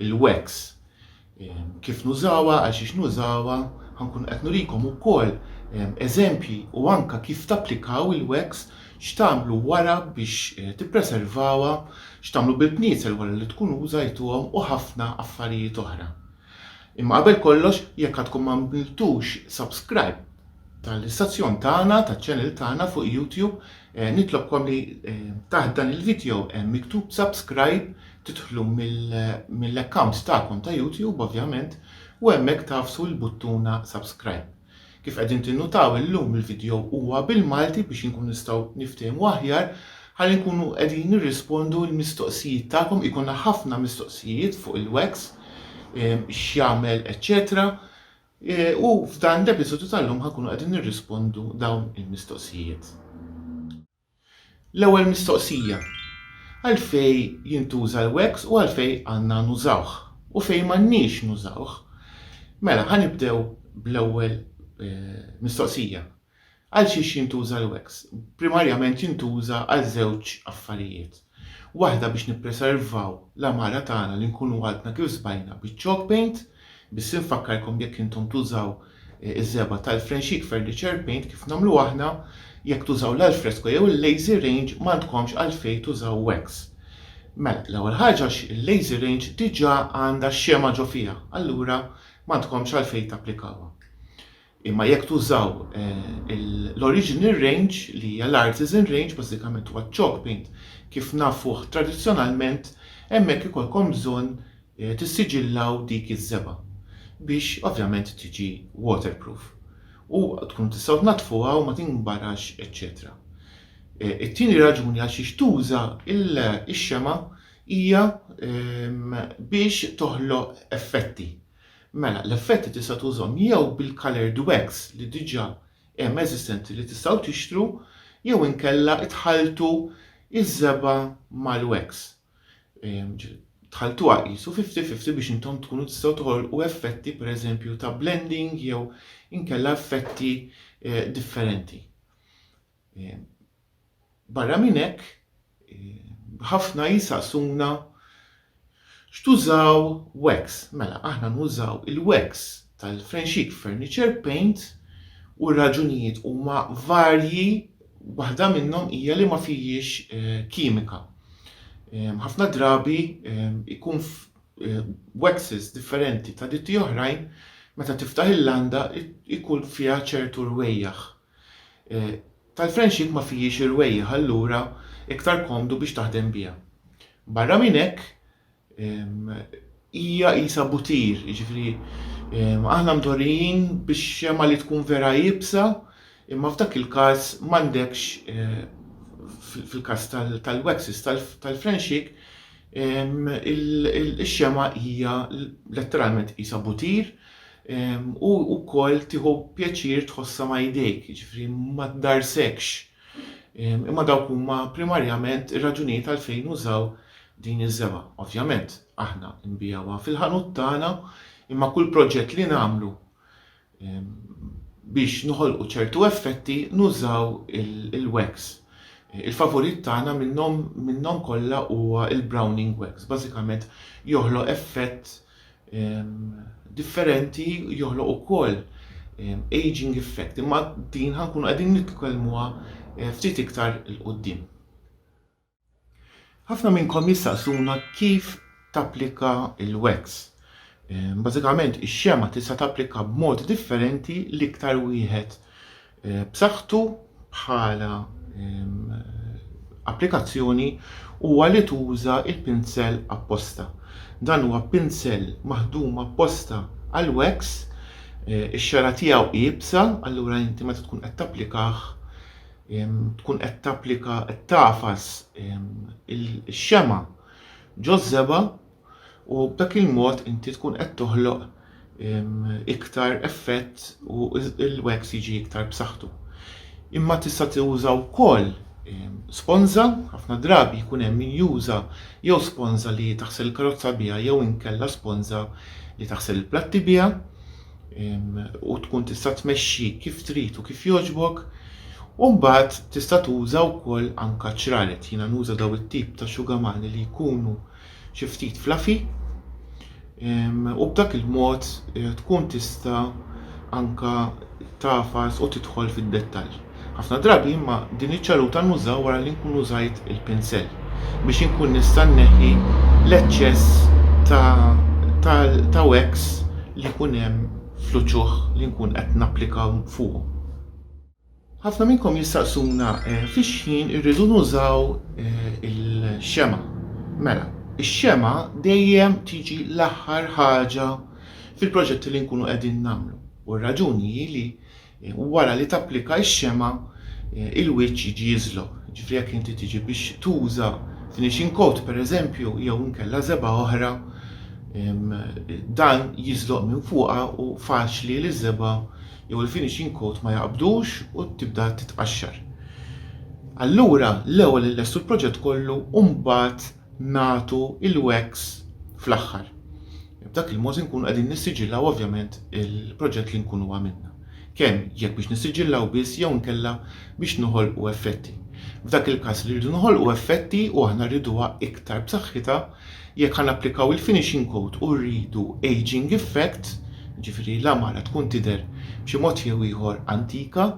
il-wax, kif nużawha, għal xiex nużawha, ħa nkun qed nurikom ukoll eżempji u anke kif tapplikaw il-wax, x'tagħmlu wara biex tippreservawha, x'tagħmlu bil-bniezel wara li tkun użajtuhom u ħafna affarijiet oħra. Imma qabel kollox, jekk għadkom m'għamiltux subscribe tal-istazzjon tagħna, taċ-channel tagħna fuq YouTube, nitlobkom li taħt dan il-video hemm miktub subscribe, Tidħlu mill-account tagħkom ta' YouTube ovvjament u hemmhekk tagħfsu l-buttuna subscribe. Kif qegħdin tinnutaw illum il-video huwa bil-Malti biex inkunu nistgħu niftehmu aħjar ħalli nkunu qegħdin nirrispondu l-mistoqsijiet tagħkom ikolna ħafna mistoqsijijiet fuq il-wax x'jagħmel eċċetera u f'dan l-episodju tal-lum ħa nkunu qegħdin nirrispondu dawn il-mistoqsijiet. L-ewwel mistoqsija, għalfejn jintuża l-wax u għalfejn għandna nużawh u fejn m'għandniex nużawh? Mela, ħa nibdew bl-ewwel mistoqsija. Għalxiex jintuża l-wax? Primarjament jintuża għal żewġ affarijiet. Waħda biex nippreservaw l-għamara tagħna li nkunu għadna kif sbajna biċ-chalk paint, biss infakkarkom jekk intom tużaw iż-żebgħa tal-fren sheet furniture paint kif nagħmlu aħna, jekk tużaw l-alfresco jew il-lazy range m'għandkomx għalfejn tużaw wax. Mela, l-ewwel ħaġa għax il-lazy range diġà għandha x-xemgħa ġo fiha, allura m'għandkomx għalfejn tapplikawha. Imma jekk tużaw l-original range li hija l-artisan range, bażikament huwa ċ-chalk paint kif nafuh tradizzjonalment, hemmhekk ikollkom bżonn tissiġillaw dik iż-żebgħa biex ovvjament tiġi waterproof u tkunu tistgħu tnaddfuha u ma tinbarax eċċetera. It-tieni raġuni għal xiex tuża x-xemgħa hija biex toħloq effetti. Mela, l-effetti tista' tużhom jew bil-coloured wax li diġà hemm eżistenti li tistgħu tixtru jew inkella tħalltu ż-żebgħa mal-wax. Tħalltuha qisu fifty fifty biex intom tkunu tistgħu toħolqu effetti pereżempju ta' blending jew inkella effetti eh, differenti. Barra minn hekk, ħafna jisaqsuna x'tużaw wax. Mela, aħna nużaw il-wax tal-Frenxix Furniture Paint u r-raġunijiet huma varji, waħda minnhom hija li ma fihiex kimika. Ħafna drabi jkun waxes differenti ta' ditti oħrajn meta tiftaħ il-landa jkun fiha ċertu rwejjaħ. tal-friendship ma fihiex irwejjieħ allura iktar komdu biex taħdem biha. Barra minn hekk hija qisha butir, jiġifieri aħna mdorrijin bix-xemgħa li tkun vera iebsa imma f'dak il-każ m'għandekx fil-każ tal-waxes tal-friendship ix-xemgħa hija letteralment qisha butir, u wkoll tieħu pjaċir tħossha ma' idejk, jiġifieri ma tdarrsekx. Imma dawk huma primarjament ir-raġunijiet għalfejn użaw din iż-żebgħa. Ovvjament, aħna nbigħuha fil-ħanut tagħna, imma kull proġett li nagħmlu biex noħolqu ċertu effetti nużaw il-wax. Il-favorit tagħna minnhom minnhom kollha huwa l-Browning Wax, bażikament joħloq effett differenti joħloq ukoll aging effect, imma din ħankunu qegħdin nitkellmuha eh, ftit iktar il-qoddim. Ħafna minnkom jistaqsuna kif tapplika il-wax. Eh, bażikament ix-xema tista' tapplika b'mod differenti l-iktar wieħed b'saħħtu bħala applikazzjoni huwa li tuża l-pinsell apposta. Dan huwa pinsell maħdum apposta għall-wax, ix-xagħra tiegħu iebsa, allura inti meta tkun qed tapplikah tkun qed tapplika qed tagħfas ix-xemgħa ġoż-żebgħa, u b'dak il-mod inti tkun qed toħloq iktar effett u l-wax jiġi iktar b'saħħtu. Imma tista' tuża wkoll sponża, ħafna drabi jkun hemm min juża jew sponża li taħsel karozza biha jew inkella sponża li taħsel il-platti biha u tkun tista' tmexxi kif trid u kif jogħġbok. U mbagħad tista' tuża wkoll anka ċraret, jiena nuża daw it-tip ta' xugamani li jkunu xi ftit fluffy u b'dak il-mod eh, tkun tista' anka tafas u tidħol fid-dettall. Ħafna drabi imma din iċ-ċaruta nużaw wara li nkun użajt il-pinsell biex inkun nista' nneħħi l-eċċess ta', ta, ta wax li jkun hemm fl-uċuħ li nkun qed napplika fuqhom. Ħafna minnkom jistaqsuna fix-xħin irridu nużaw il-xemgħa. Mela, ix-xemgħa dejjem tiġi l-aħħar ħaġa fil-proġetti li nkunu qegħdin nagħmlu u r-raġuni hi li wara li tapplika x-xemgħa il-wiċċ jiġi jiżloq. Ġifieri jekk inti tiġi biex tuża finishing coat pereżempju jew inkella żebgħa oħra dan jiżloq minn fuqha u faċli li ż-żebgħa jew il-finishing coat ma jaqbdux u tibda titqaxxar. Allura l-ewwel inlestu l-proġett kollu u mbagħad nagħtu il-wax fl-aħħar. B'dak il-mod inkunu qegħdin nissiġillaw ovvjament il-proġett li nkunu għamilna. Kemm jekk biex nissiġillaw biss jew inkella biex noħolqu effetti. F'dak il-każ li rridu noħolqu effetti u aħna rriduha iktar b'saħħitha, Jekk ħa napplikaw il-finishing coat u rridu ageing effect, jiġifieri li l-għamara tkun tidher b'xi mod jew ieħor antika,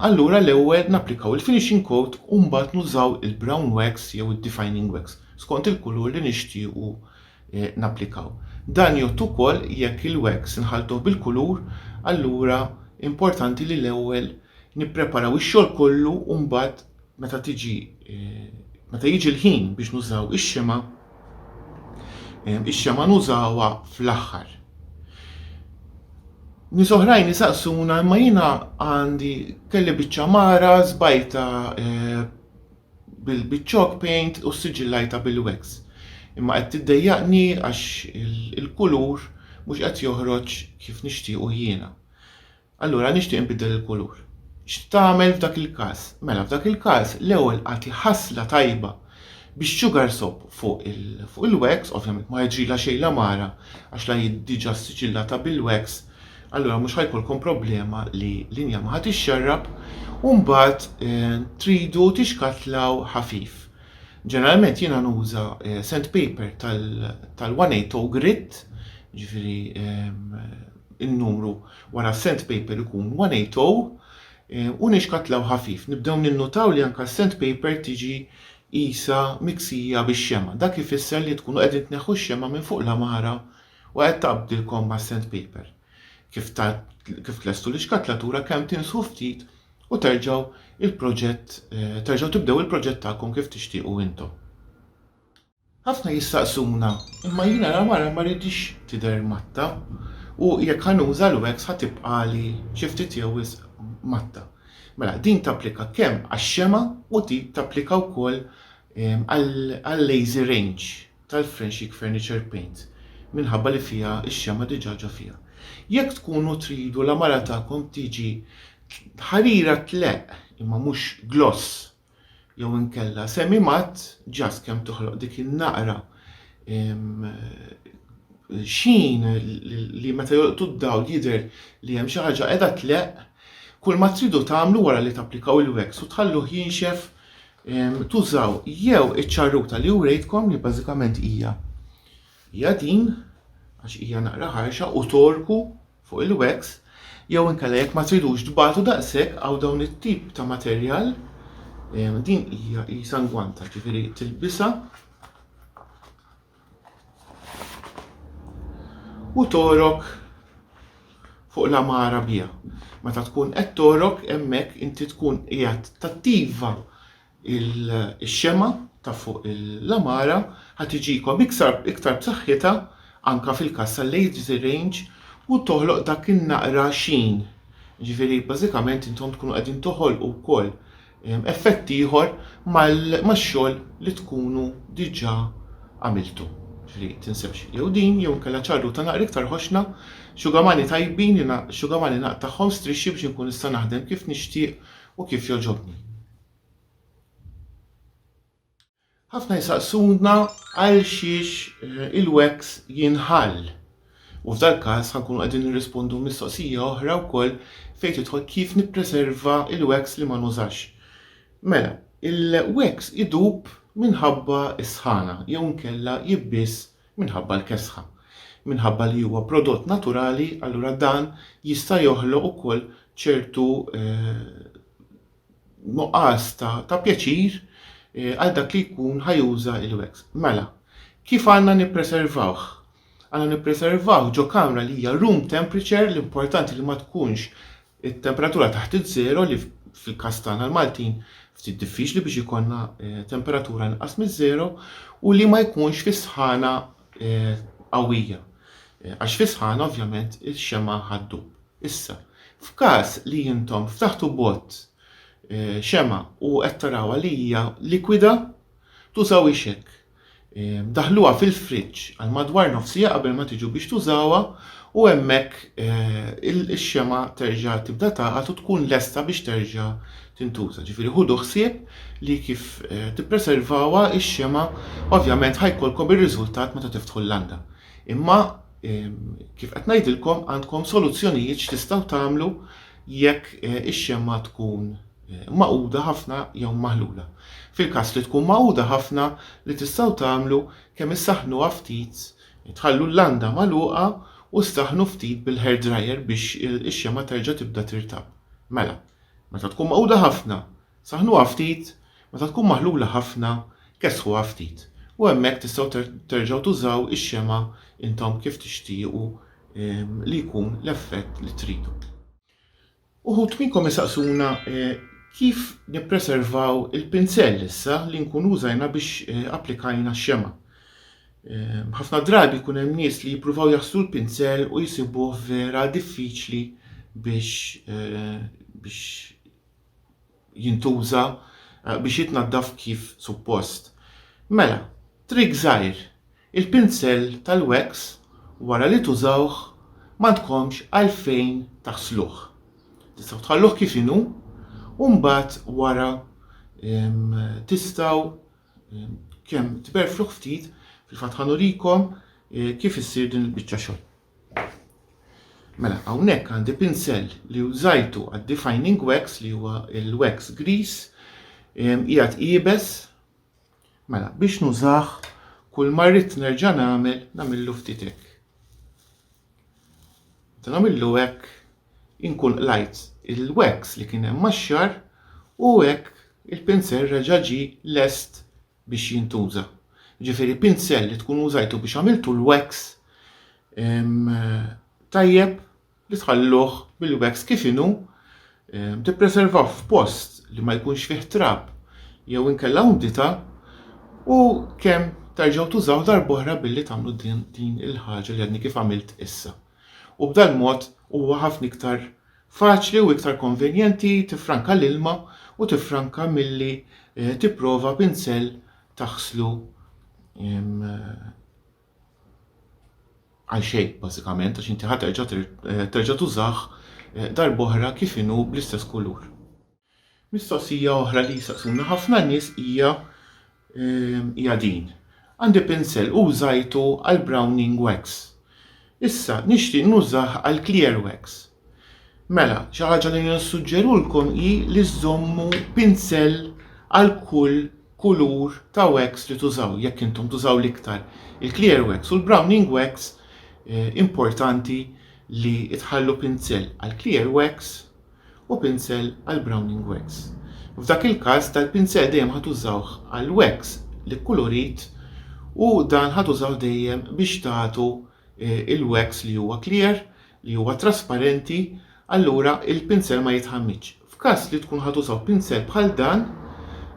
allura l-ewwel napplikaw il-finishing coat u mbagħad nużaw il-brown wax jew id-defining wax skont il-kulur li nixtiequ napplikaw. Dan jgħodd ukoll jekk il-wax inħalltuh bil-kulur, allura importanti li l-ewwel nippreparaw ix-xogħol kollu u mbagħad meta tiġi meta jiġi l-ħin biex nużaw ix-xema, ix-xema nużawha fl-aħħar. Nies oħrajn isaqsuna imma jiena għandi kelli biċċa mara żbajta eh, bil-chalk paint u siġillajta bil-wax. Imma qed tiddejjaqni għax il-kulur mhux qed joħroġ kif nixtiequ jiena. Allura nixtieq inbiddel il-kulur. X'tagħmel f'dak il-każ? Mela f'dak il-każ l-ewwel agħti ħasla tajba bix-sugar soap fuq il-wax, ovvjament ma ħeġrilha xejn l-għamara għax la hi diġà ssiġillata bil-wax, allura mhux ħa jkollkom problema li l-injam ħa tixxarrab, u mbagħad tridu tixkatlaw ħafif. Ġeneralment jiena nuża sandpaper tal-180 grit, jiġifieri n-numru Wara s-sandpaper ikun 180 u nixkatlaw ħafif. Nibdew ninnutaw li anke s-sandpaper tiġi qisha miksija bix-xemgħa. Dak ifisser li tkunu qegħdin tneħħu x-xemgħa minn fuq l-għamara u qed taqbdilkom mas-sandpaper. Kif kif tlestu l-ixkatlatura kemm tinsħu ftit u terġgħu il-proġett terġgħu tibdew il-proġett tagħkom kif tixtiequ intom. Ħafna jistaqsuna, imma jiena ra mara ma rridhiex tidher matta u jekk ħa nuża l-wax ħa tibqagħli xi ftit jew wisq matta. Mela din tapplika kemm għax-xemgħa u tip tapplika wkoll għal-lazy range tal-Frenchic Furniture Paints minħabba li fiha x-xemgħa diġà ġo fiha. Jekk tkunu tridu la mara tagħkom tiġi ħarira tleqq imma mhux gloss jew inkella semi matt ġast kemm toħloq dik in-naqra xin li meta jolqtu d-dawl jidher li hemm xi ħaġa qiegħda tleqq, kull ma tridu tagħmlu wara li tapplikaw il-wax u tħalluh jinxef tużaw jew iċ-ċarruta li urejtkom li bażikament hija hija din għax hija naqra ħarxa u torku fuq il-wax jew inkella jekk ma tridux tbatu daqshekk hawn dawn it-tip ta' materjal ehm, din hija qisha ngwanta ġifieri tilbisa u torok fuq l-amara biha. Meta tkun qed torok hemmhekk inti tkun qiegħed tattiva il-xemgħa ta' fuq il-għamara ħa tiġikom iktar b'saħħitha anke fil-każ tal-age range u toħloq dak in-naqra xien. Ġifieri bażikament intom tkunu qegħdin toħolqu wkoll effett ieħor max-xogħol li tkunu diġà għamiltu. Ġifieri tinsewx jew din jew inkella ċarruta naqra iktar ħoxna, xugamani tajbin, xugamani naqtagħhom strixxi biex inkun nista' naħdem kif nixtieq u kif jogħġobni. Ħafna jsaqsuna għalxiex il-wax jinħall. U f'dal-każ ħankunu qegħdin nirrispondu mistoqsija oħra wkoll fejn tidħol kif nippreserva il-wax li ma nużax. Mela, il-wax idub minħabba s-sħana jew inkella jibbies minħabba l-kesħa. Minħabba li huwa prodott naturali, allura dan jista' joħloq ukoll ċertu eh, nuqqas ta', ta pjaċir għal dak li jkun ħa juża il-wax. Mela, kif għandna nippreservawh? Għandna nippreservawh ġo kamra li hija room temperature, l-importanti li ma tkunx it-temperatura taħt iż-żero li fil-każ tagħna l-Maltin ftit diffiċli biex ikollna eh, temperatura inqas miż-żero u li ma jkunx fis-sħana eh, qawwija. Eh, għax fis-sħana ovvjament ix-xema ħaddub. Issa, f'każ li intom ftaħtu bot xemgħa u qed tarawha li hija likwida, tużawhiex hekk. Daħħluha fil-friġġ għal madwar nofs siegħa qabel ma tiġu biex tużawha u hemmhekk ix-xemgħa terġa' tibda tagħqad u tkun lesta biex terġa' tintuża. Ġifieri ħudu ħsieb li kif tippreservawha x-xemgħa, ovvjament ħa jkollkom ir-riżultat meta tiftħu l-landa. Imma Kif qed ngħidilkom għandkom soluzzjonijiet x'tistgħu tagħmlu jekk ix-xemma tkun maquda ħafna jew maħlula. Fil-każ li tkun magħquda ħafna li tistgħu tagħmlu kemm issaħħnuha ftit, tħallu l-landa magħluqa u ssaħħnu ftit bil-hair dryer biex ix-xemma terġa' tibda tirtab. Mela, meta tkun magħquda ħafna, Saħħnuha ftit, meta tkun maħlula ħafna, kessħuha ftit u hemmhekk tistgħu terġgħu tużaw ix-xemgħa intom kif tixtiequ li jkun l-effett li tridu. Uħud minnkom isaqsuna kif nippreservaw il-pinsell issa li nkunu użajna biex applikajna x-xemgħa. Ħafna drabi jkun hemm nies li jippruvaw jaħslu l-pinsell u jsibuh vera diffiċli biex biex jintuża biex jitnaddaf kif suppost. Mela, trick żgħir, il-pinsell tal-wax wara li tużawh m'għandkomx għalfejn taħsluh. Tistgħu tħalluh kif inhu u mbagħad wara tistgħu kemm tberfluh ftit, fil-fatt ħa nurikom kif issir din il-biċċa xogħol. Mela, hawnhekk għandi pinsell li użajtu għad-defining wax li huwa l-wax grease qiegħed iebes. Mela, biex nużah kull ma rrid nerġa' nagħmel nagħmillu ftit hekk. Meta nagħmillu hekk inkun qlajt il-wax li kien hemm max-xar u hekk il-pinsell reġa' ġie lest biex jintuża. Jiġifieri pinsell li tkun użajtu biex għamiltu l-wax tajjeb li tħalluh bil-wax kif inhu tippreservah f'post li ma jkunx fih trab jew inkella umdità u kemm terġgħu tużaw darb'oħra billi tagħmlu din il-ħaġa li għadni kif għamilt issa. U b'dal-mod huwa ħafna iktar Faċli u iktar konvenjenti tiffranka l-ilma u tiffranka milli tipprova pinsell taħslu għal xejn bażikament għax inti ħa terġa' terġa' tużah darb'oħra kif inhu bl-istess kulur. Mistoqsija oħra li jsaqsuna ħafna nies hija hija din, Għandi pinsell u użajtu għall-browning wax. Issa nixtieq nużah għall-clear wax. Mela, xi ħaġa li nissuġġerulkom hi li żżommu pinsell għal kull kulur ta' wax li tużaw, jekk intom tużaw l-iktar il-clear wax u l-browning wax importanti li tħallu pinsell għall-clear wax u pinsel għal browning wax. F'dak il-każ dal-pinsel dejjem ħa tużawh għal wax li kkulurit u dan ħa tużawh dejjem biex tagħtu il-wax li huwa clear, li huwa trasparenti, allura il-pinsel ma jitħammiġx. F'każ li tkun ħa tużaw pinsel bħal dan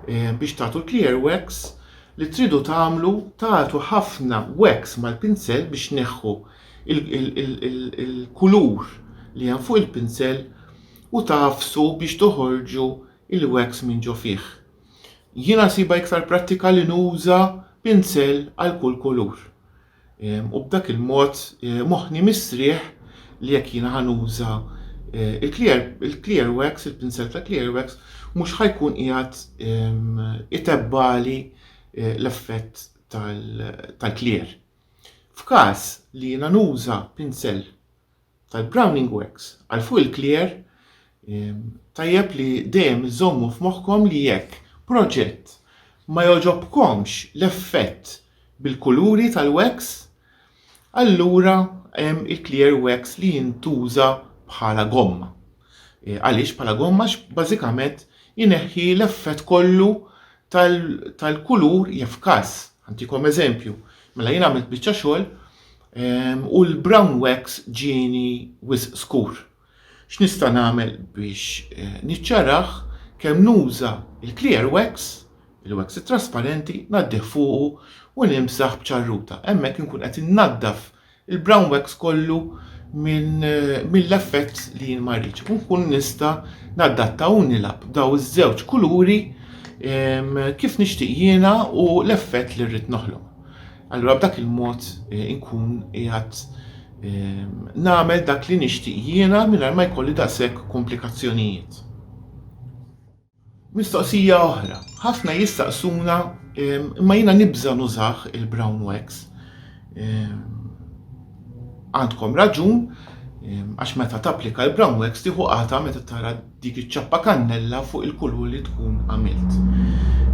biex tagħtu l-clear wax, li tridu tagħmlu tagħtu ħafna wax mal-pinsel biex tneħħu il-kulur li hemm fuq il-pinsel u tagħfsu biex toħorġu il-wax minn ġo fih. Jiena siba iktar prattika li nuża pinsel għal kull kulur. Ehm, u b'dak il-mod eh, moħħni mistrieħ li jekk jiena ħanuża eh, il-clear, il-clear wax, il-pinsel ta' clear wax, mhux ħajkun qiegħed ehm, itebbali eh, l-effett tal-clear. F'każ li jiena nuża pinsell tal-Browning Wax għal fuq il-clear, tajjeb li dejjem iżommu f'moħħkom li jekk proġett ma jogħġobkomx l-effett bil-kuluri tal-wax, allura hemm il-clear wax li jintuża bħala gomma. Għaliex bħala gomma? Għax bażikament ineħħi l-effett kollu tal-kulur jaf każ. Ħantikom eżempju, mela jien għamilt biċċa xogħol ehm, u l-brown wax ġieni wisq skur. X'nista' nagħmel biex eh, niċċarah kemm nuża il-clear wax, il-wax trasparenti, naddih fuqu u nimsaħ b'ċarruta. Hemmhekk inkun qed innaddaf il-brown wax kollu minn mill-effett li jien ma rridx. U nkun nista' naddatta u nilab daw iż-żewġ kuluri kif nixtieq jiena u l-effett li rrid noħloq. Allura b'dak il-mod eh, inkun qiegħed ehm, nagħmel dak li nixtieq jiena mingħajr ma jkolli daqshekk komplikazzjonijiet. Mistoqsija oħra, Ħafna jistaqsuna imma jiena nibża' nużah il-brown wax. Għandkom raġun għax meta tapplika l-brown wax tieħu qata' meta tara dik iċ-ċappa kannella fuq il-kulur li tkun għamilt.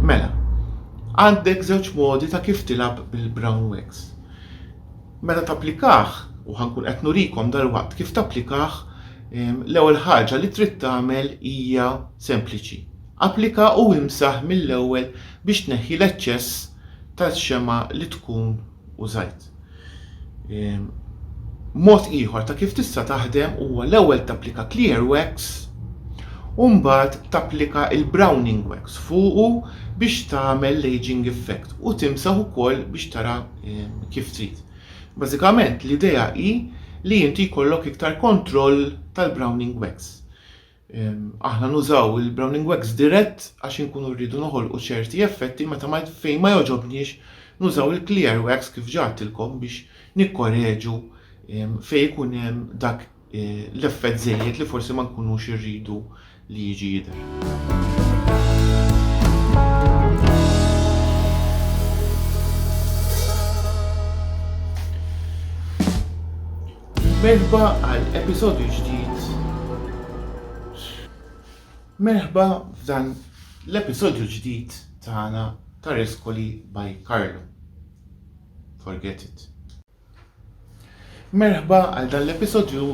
Mela, għandek żewġ modi ta' kif tilgħab bil-brown wax. Meta tapplikah, u ħa nkun qed nurikom dalwaqt kif tapplikah, l-ewwel ħaġa li trid tagħmel hija sempliċi. Applika u imsaħ mill-ewwel biex tneħħi l-eċċess tal-xemgħa li tkun użajt. Mod ieħor ta' kif tista' taħdem huwa l-ewwel tapplika clear wax u mbagħad tapplika l-browning wax fuqu biex tagħmel l-ageing effect u timsaħ ukoll biex tara kif trid. Bażikament l-idea hi li inti jkollok iktar kontroll tal-browning wax. Aħna nużaw il-browning wax dirett għax inkunu rridu noħolqu ċerti effetti meta ma fejn ma jogħġobniex nużaw il-clear wax kif ġatilkom biex nikkoreġu fejn ikun hemm dak l-effett żejjed li forsi ma nkunux irridu li jiġi jidher. Merħba għal episodju ġdid. Merħba f'dan l-episodju ġdid tagħna ta' Reskoli by Carlo. Forget it. Merħba għal dan l-episodju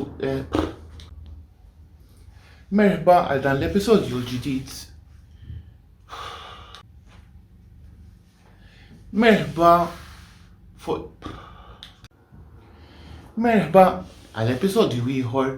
Merħba għal dan l-episodju l-ġdid. Merħba fuq Merħba għal episodju ieħor